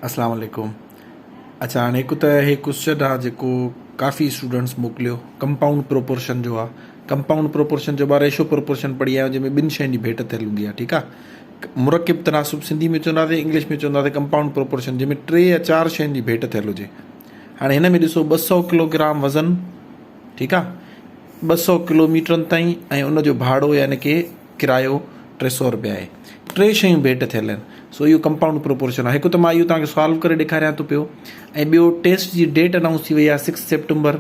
اسلام عليڪم اڇا هاڻي هڪ ته هي ڪوسچن آ جيڪو ڪافي اسٽوڊنٽس موڪليو ڪمپائونڊ پروپورشن جو آ ڪمپائونڊ پروپورشن جو مان ريشو پروپورشن پڙهي آيو جنهن ۾ ٻن شين جي ڀيٽ ٿيل هوندي آ ٺيڪ آ مرڪب تناسب سنڌي ۾ چونداسي انگلش ۾ چونداسي ڪمپائونڊ پروپورشن جنهن ۾ ٽي يا چار شين جي ڀيٽ ٿيل هجي هاڻي هن ۾ ڏسو ٻه سؤ ڪلوگرام وزن ٺيڪ آ ٻه سؤ ڪلوميٽرن تائين ۽ ان جو ڀاڙو يعني ڪي ڪرايو ٽي سؤ روپيا آهي. ٽي شيون ڀيٽ ٿيل آهن. سو اهو ڪمپائونڊ پروپورشن آهي. هڪ ته مان اهو توهان کي سالو ڪري ڏيکاريان ٿو پيو ۽ ٻيو ٽيسٽ جي ڊيٽ انائونس ٿي وئي آهي سڪس سيپٽمبر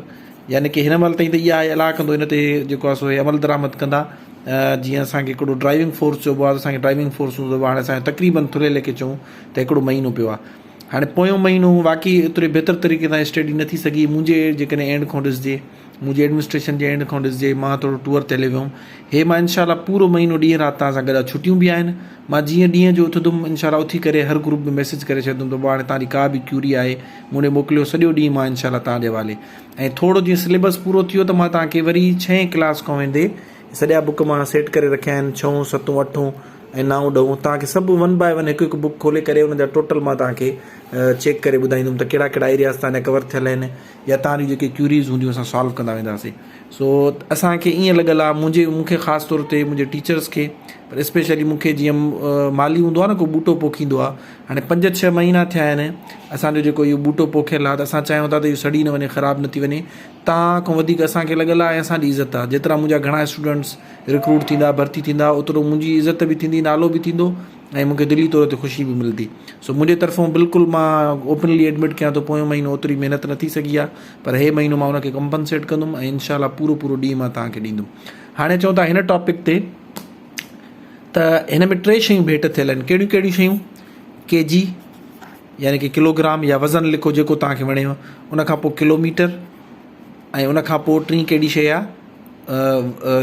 يعني ڪي هن مهل تائين ته اها آهي الله ڪندو هن تي جيڪو آهي سو هي عمل درآمد ڪندا جيئن اسان کي هڪڙو ڊرائيونگ فورس چئبو آهي ته اسان کي ڊرائيونگ فورس هوندو هاڻي اسان تقريبن ٿلهي ليکي چئون ته هڪڙو مهينو پيو آهي هاڻي پويون مهينو واقعي ايتري بهتر طريقي سان اسٽيڊي نه ٿي سگهي منهنجي جيڪڏهن اينڊ کان ڏسجي منهنجي ايڊمنسٽريشن جي اينڊ کان ڏسجي مان ٿورو ٽوئر تي هليو ويم هي مان انشاء الله پورو مهينو ڏينهن رات توهان سان گڏ آ ڇٽيون به آهن مان جيئن ڏينهن جو اٿندم انشاء الله اٿي ڪري هر گروپ ۾ ميسيج ڪري ڇڏندم ته هاڻي توهان جي ڪا به ڪيوري آهي مون ڏي موڪليو سڄو ڏينهن مان انشاء الله توهان جي حوالي ۽ ٿورو جيئن سليبس پورو ٿيو ته مان توهان کي وري ڇهين ڪلاس کان ويندي سڄا بوڪ مان سيٽ ڪري رکيا آهن ڇهون ستون اٺون ۽ نائون ڏهون توهان کي سڀ ون باء ون هڪ هڪ بوڪ کولي ڪري ان جا ٽوٽل مان توهان کي چيڪ ڪري ٻڌائيندم ته ڪهڙا ڪهڙا ايرياز توهان جا ڪور ٿيل آهن يا توهان جون جيڪي ڪيوريز هونديون اسان سالو ڪندا وينداسين سو اسان کي ائين لڳل آهي منهنجي مون کي خاص طور تي منهنجي ٽيچرس کي پر اسپيشلي مون کي جيئن مالي هوندو آهي نه ڪو ٻوٽو پوکيندو آهي هاڻي پنج ڇهه مهينا ٿيا آهن اسانجو جيڪو اهو ٻوٽو پوکيل آهي ته اسان چاهيون ٿا ته اهو سڙي نه وڃي خراب نه ٿي وڃي توهان کان وڌيڪ اسان کي لڳل آهي اسان جي عزت آهي جيترا منهنجا گهڻا اسٽوڊنٽس رڪروٽ ٿيندا ڀرتي ٿيندا اوترو منهنجي عزت به ٿيندي نالو به ٿيندو ۽ مون کي دلي طور تي خوشي به ملندي سو منهنجي طرفون بلڪل مان اوپنلي ايڊمٽ ڪيان ٿو پويون مهينو اوتري محنت نه ٿي سگهي آهي پر هي مهينو مان ان کي ڪمپنسيٽ ڪندم ۽ انشاء الله پورو پورو ڏينهن مان توهان کي ڏيندم هاڻي چئون ٿا هن ٽاپڪ تي ته هن ۾ ٽي شيون ڀيٽ ٿيل آهن ڪهڙيون ڪهڙيون شيون ڪي جي يعني ڪي ڪلوگرام يا وزن لکو جيڪو توهان کي وڻيو ان کان پوء ڪلوميٽر ۽ ان کان پوء ٽين ڪهڙي شيء آ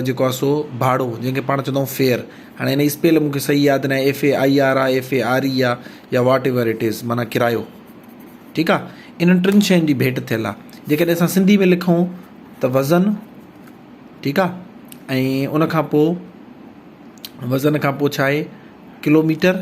جيڪو آ سو ڀاڙو جنهن کي پاڻ چوندائون فيئر هاڻي ان جي اسپيل مون کي صحيح ياد ناهي ايف اي آئي آر آ ايف اي آر اي آ يا واٽ ايور اٽ از معنيٰ ڪرايو ٺيڪ آ انهن ٽن شين جي ڀيٽ ٿيل آ جيڪڏهن اسان سنڌي ۾ لکون ته وزن ٺيڪ آ ۽ ان کان پوء وزن کان پوء ڇا آهي ڪلوميٽر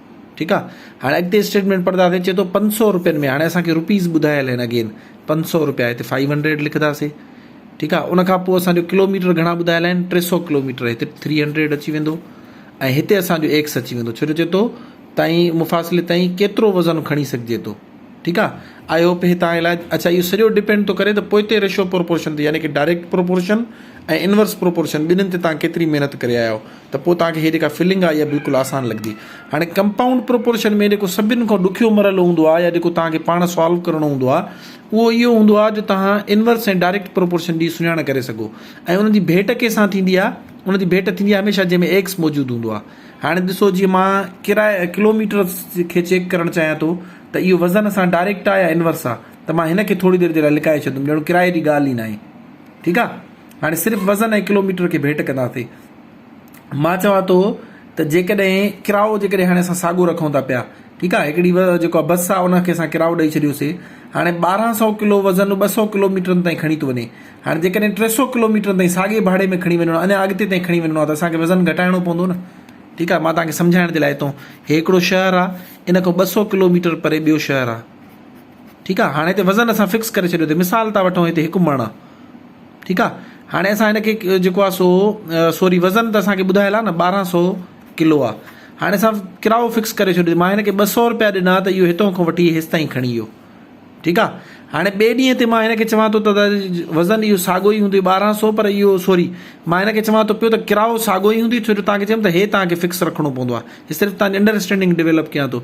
ٺيڪ آ هاڻي اڳتي اسٽيٽمينٽ پڙهنداسين چي ٿو پنج سؤ روپين ۾ هاڻي اسان کي روپيز ٻڌايل آهن اگين پنج سؤ روپيا هتي فائيو هنڊريڊ لکنداسين ٺيڪ آ ان کان پوء اسان جو ڪلوميٽر گهڻا ٻڌايل آهن ٽي سؤ ڪلوميٽر هتي ٿري هنڊريڊ اچي ويندو ۽ هتي اسان جو ايڪس اچي ويندو ڇو جو چي ٿو تائين مفاصلي تائين ڪيترو وزن کڻي سگهجي ٿو ٺيڪ آ آئي هوپ هي تان علاج اچھا اهو سڄو ڊپينڊ ٿو ڪري ته پوئتي ريشو پروپورشن تي يعني ڪي ڊائريڪٽ پروپورشن ۽ انورس پروپورشن ٻنهن تي تان ڪيتري محنت ڪري آيا آهيو ته پوء توهان کي هيء جيڪا فلنگ آهي اها بلڪل آسان لڳندي. هاڻي ڪمپائونڊ پروپورشن ۾ جيڪو سڀن کان ڏکيو مرحلو هوندو آهي يا جيڪو توهان کي پاڻ سالو ڪرڻو هوندو آهي اهو اهو هوندو آهي جو توهان انورس ۽ ڊائريڪٽ پروپورشن جي سڃاڻ ڪري سگهو ۽ انهن جي ڀيٽ ڪنهن سان ٿيندي آهي انهن جي ڀيٽ ٿيندي آهي هميشه جنهن ۾ ايڪس موجود هوندو آهي هاڻي ڏسو جيئن مان ڪراء ڪلوميٽر کي چيڪ ڪرڻ چاهيان ٿو ته اهو وزن سان ڊائريڪٽ آهي يا انورس آهي ته مان هن کي ٿوري دير جي لاء لڪائي ڇڏندم ڄڻو ڪراء جي ڳالهه ئي ناهي ٺيڪ آهي هاڻي صرف وزن ۽ ڪلوميٽر کي ڀيٽ ڪنداسين. مان چوان ٿو ته جيڪڏهن ڪراءو جيڪڏهن هاڻي اسان ساڳيو رکون ٿا پيا ٺيڪ آهي هڪڙي جيڪو بس آهي ان کي اسان ڪراءو ڏئي ڇڏيوسي هاڻي ٻارهن سئو ڪلو وزن ٻه سئو ڪلوميٽرن تائين کڻي ٿو وڃي هاڻي جيڪڏهن ٽي سئو ڪلوميٽرن تائين ساڳي ڀاڙي ۾ کڻي وڃڻو اڃا اڳتي تائين کڻي وڃڻو آهي ته اسان کي وزن گهٽائڻو پوندو نه ٺيڪ آهي مان توهان کي سمجهائڻ جي لاء ٿو هي هڪڙو شهر آهي ان کان ٻه سئو ڪلوميٽر پري ٻيو شهر آهي ٺيڪ آ هاڻي هتي وزن اسان فڪس ڪري ڇڏيو تي مثال ٿا وٺون هتي هڪ مڻ آ ٺيڪ آ هاڻي اسان هن کي جيڪو آ سو سوري وزن ته اسان کي ٻڌايل آ نه ٻارهن سو ڪلو آ هاڻي اسان ڪرايو فڪس ڪري ڇڏيو مان هن کي ٻه سو روپيا ڏنا ته اهو هتو کان وٺي هيس تائين کڻي ويو ٺيڪ آ هاڻي ٻئي ڏينهن تي مان هن کي چوان ٿو ته وزن اهو ساڳو ئي هوندو ٻارهن سو پر اهو سوري مان هن کي چوان ٿو پيو ته ڪرايو ساڳو ئي هوندو ڇو جو تان کي چيم ته هي تان کي فڪس رکڻو پوندو آ هي صرف تان انڊرسٽينڊنگ ڊيولپ ڪيان ٿو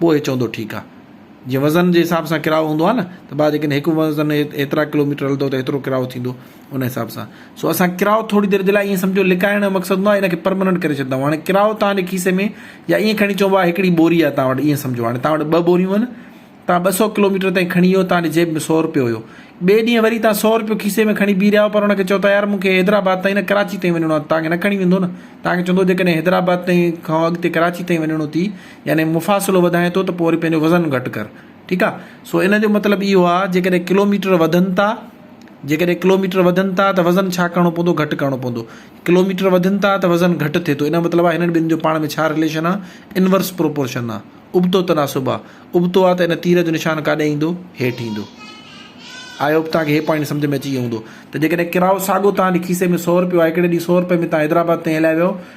پوء هي چوندو ٺيڪ آ. جيئن وزن جي حساب سان ڪرايو هوندو آ نه ته ڀاء جيڪڏهن هڪ وزن ايترا ڪلو ميٽر هلندو ته ايترو ڪرايو ٿيندو ان حساب سان سو اسان ڪرايو ٿوري دير جي لاء ائين سمجهو لڪائڻ جو مقصد هوندو آ ان کي پرمننٽ ڪري ڇڏيندا آهيون هاڻي ڪرايو توهان جي کيسي ۾ يا ائين کڻي چئبو آ هڪڙي ٻوري آ توهان وٽ ائين سمجهو هاڻي توهان وٽ ٻه ٻوريون آهن توهان ٻه سئو ڪلو ميٽر تائين کڻي ويو توهان جي جيب ۾ سئو روپيو هيو ٻئي ڏينهن وري توهان سئو روپيو کيسي ۾ کڻي بيهي رهيا آهيو پر ان کي چئو ٿا يار مون کي حيدرآباد تائين نه ڪراچي تائين وڃڻو آ توهان کي نه کڻي ويندو نه توهان کي چوندو جيڪڏهن حيدرآباد تائين کان اڳتي ڪراچي تائين وڃڻو ٿي يعني مفاصلو وڌائين ٿو ته پوء وري پنهنجو وزن گهٽ ڪر ٺيڪ آ سو ان جو مطلب اهو آ جيڪڏهن ڪلوميٽر وڌن ٿا جيڪڏهن ڪلوميٽر وڌن ٿا ته وزن ڇا ڪرڻو پوندو گهٽ ڪرڻو پوندو ڪلوميٽر وڌن ٿا ته وزن گهٽ ٿئي ٿو ان جو مطلب آ هنن ٻنهي جو پاڻ ۾ ڇا رليشن آ انورس پروپورشن آ ابتو تناسب آ ابتو آ ته ان تير جو نشان ڪاڏي ايندو هيٺ ايندو آئي هوپ توهان کي هي پوائنٽ سمجھ ۾ اچي ويو هوندو ته جيڪڏهن ڪرايو ساڳو توهان جي کيسي ۾ سؤ روپيو آ هڪڙي ڏينهن سؤ روپئي ۾ توهان حيدرآباد تائين هلائي ويو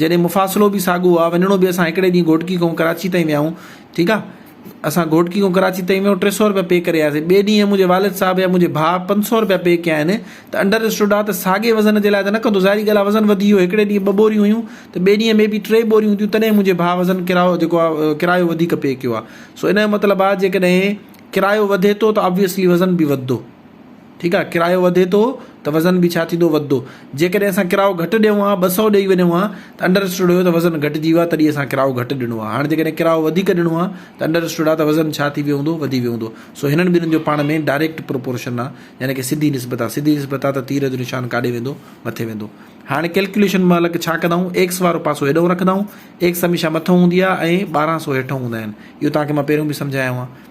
جڏهن مفاصلو به ساڳو هو وڃڻو به اسان هڪڙي ڏينهن گهوٽڪي کان ڪراچي تائين ويا آهيون ٺيڪ آهي اسان گهوٽڪي کان ڪراچي تائين ويا آهيون ٽي سو روپيا پي ڪري آياسي ٻئي ڏينهن منهنجي والد صاحب يا منهنجي ڀاء پنج سو روپيا پي ڪيا آهن ته انڊر اسٽوڊ آهي ته ساڳي وزن جي لاء ته نه ڪندو ظاهري ڳالهه آهي وزن وڌي ويو هڪڙي ڏينهن ٻه ٻوريون هيون ته ٻئي ڏينهن مي بي ٽي ٻوريون هونديون تڏهن منهنجي ڀاء وزن ڪرايو جيڪو آهي ڪرايو وڌيڪ پي ڪيو آهي سو ان جو مطلب آهي جيڪڏهن ڪرايو وڌي ٿو ته ابويسلي وزن به وڌندو ٺيڪ آهي ڪرايو وڌي ٿو ته وزن به ڇا ٿيندو وڌدو جيڪڏهن اسان ڪرايو گهٽ ڏيون ها ٻه سؤ ڏئي وڃون ها ته انڊر اسٽوڊ هيو ته وزن گهٽجي ويو آهي تڏهن اسان ڪرايو گهٽ ڏنو آهي هاڻ جيڪڏهن ڪرايو وڌيڪ ڏنو آهي ته انڊر اسٽوڊ آهي ته وزن ڇا ٿي ويو هوندو وڌي ويو هوندو سو هنن ٻنهن جو پاڻ ۾ ڊائريڪٽ پروپورشن آهي يعني ڪه سڌي نسبت آهي سڌي نسبت آهي ته تير جو نشان ڪاڏي ويندو مٿي ويندو هاڻ ڪيلڪيوليشن مهل ڇا ڪندا آهيون ايڪس وارو پاسو هيڏئون رکندا آهيون ايڪس هميشه مٿئون هوندي آهي ۽ ٻارهن سؤ هيٺئون هوندا آهن اهو توهان کي مان پهريون به سمجهايو آهي